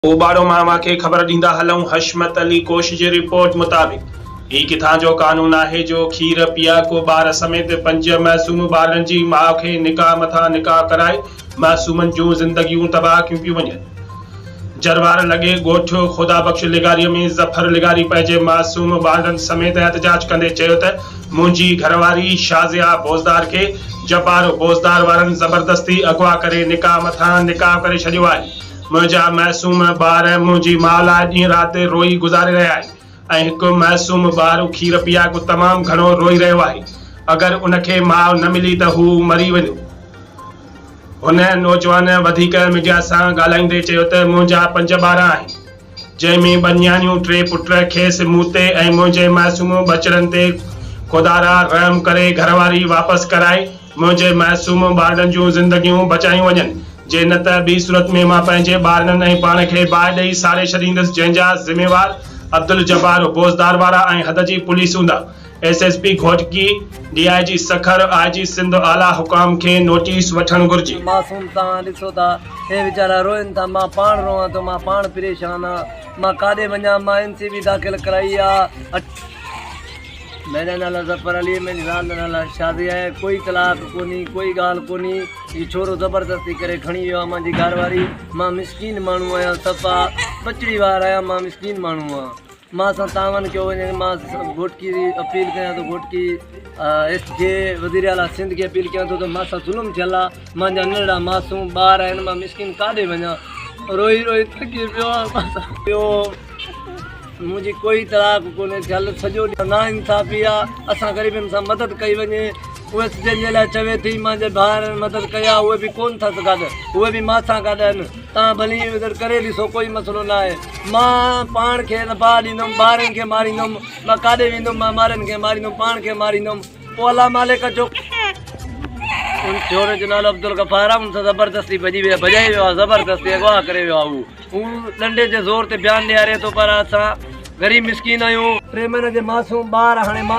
اوٻاڙو ماما کي خبر ڏيندا هلون حشمت علي ڪوش جي رپورٽ مطابق هي ڪٿان جو قانون آهي جو کير پيا ڪو ٻار سميت پنج معصوم ٻارڙن جي ماء کي نڪاح مٿان نڪاح ڪرائي معصومن جون زندگيون تباهه ڪيون پيون وڃن جروار لڳي ڳوٺ خدا بخش لغاري ۾ ظفر لغاري پنهنجي معصوم ٻارڙن سميت احتجاج ڪندي چيو ته منهنجي گهرواري شازيا بوزدار کي جبار بوزدار وارن زبردستي اغوا ڪري نڪاح مٿان نڪاح ڪري ڇڏيو آهي منهنجا معصوم ٻار ۽ منهنجي ماء لاء ڏينهن رات روئي گذاري رهيا آهن ۽ هڪ معصوم ٻار کير پياڪو تمام گهڻو روئي رهيو آهي. اگر ان کي ماء نه ملي ته هو مري ويندو. هن نوجوان وڌيڪ ميڊيا سان ڳالهائيندي چيو ته منهنجا پنج ٻار آهن جنهن ۾ ٻه نياڻيون ٽي پٽ کيس مون تي ۽ منهنجي معصوم ٻچڙن تي خدارا رحم ڪري گهرواري واپس ڪرائي منهنجي معصوم ٻارڙن جون زندگيون بچايون وڃن جي نه ته ٻي صورت ۾ مان پنهنجي ٻارڙن ۽ پاڻ کي باهه ڏئي ساڙي ڇڏيندس جنهن جا ذميوار عبدالجبار بوزدار وارا ۽ حد جي پوليس هوندا S S P Ghotki D I G Sukkur I G Sindh اعليٰ حڪام کي نوٽيس وٺڻ گهرجي. معصوم توهان ڏسو ٿا هي ويچارا روئن ٿا مان پاڻ روئان ٿو مان پاڻ پريشان آهيان مان ڪاڏي وڃان مان اين سي بي داخل ڪرائي آء اٺ. مهريان نالا ظفر علي منهنجي زال نالا شازي آهي ڪوئي طلاق ڪونهي ڪوئي ڳالهه ڪونهي هي ڇورو زبردستي ڪري کڻي ويو آهي مانجي گهر واري مان مسڪين ماڻهو آهيان صفا ٻچڙي وار آهيان مان مسڪين ماڻهو آهيان مان سان تعاون ڪيو وڃي مان گهوٽڪي جي اپيل ڪيان ٿو گهوٽڪي ايس جي وزيراعليٰ سنڌ کي اپيل ڪيان ٿو ته مان سان ظلم ٿيل آهي مانجا ننڍڙا معصوم ٻار آهن مان مسڪين ڪاڏي وڃان روئي روئي ٿڪي پيو آهيان منهنجي ڪوئي تلاڪ ڪونهي ٿيل سڄو ڏينهن نا انصافي آ اسان غريبن سان مدد ڪئي وڃي اهي سڄن جي لاء چوي ٿي مانجي ڀائرن مدد ڪئي آ اهي به ڪون ٿس گڏ اهي به مان سان گڏ آهن تان ڀلي ادھر ڪري ڏسو ڪوئي مسئلو نا آهي مان پاڻ کي نه باهه ڏيندم ٻارن کي ماريندم مان ڪاڏي ويندم مان مارن کي ماريندم پاڻ کي ماريندم پوء الله مالڪ اچو ان ڇوڙي جو نالو عبدالغفار ان سان زبردستي بجي ويا بجائي ويا زبردستي اغوا ڪري ويا هو هو ڏنڊي جي زور تي بيان ڏياري ٿو پر اسا غريب مسڪين آيون ٽي مهينن جي معصوم ٻار هاڻي ماء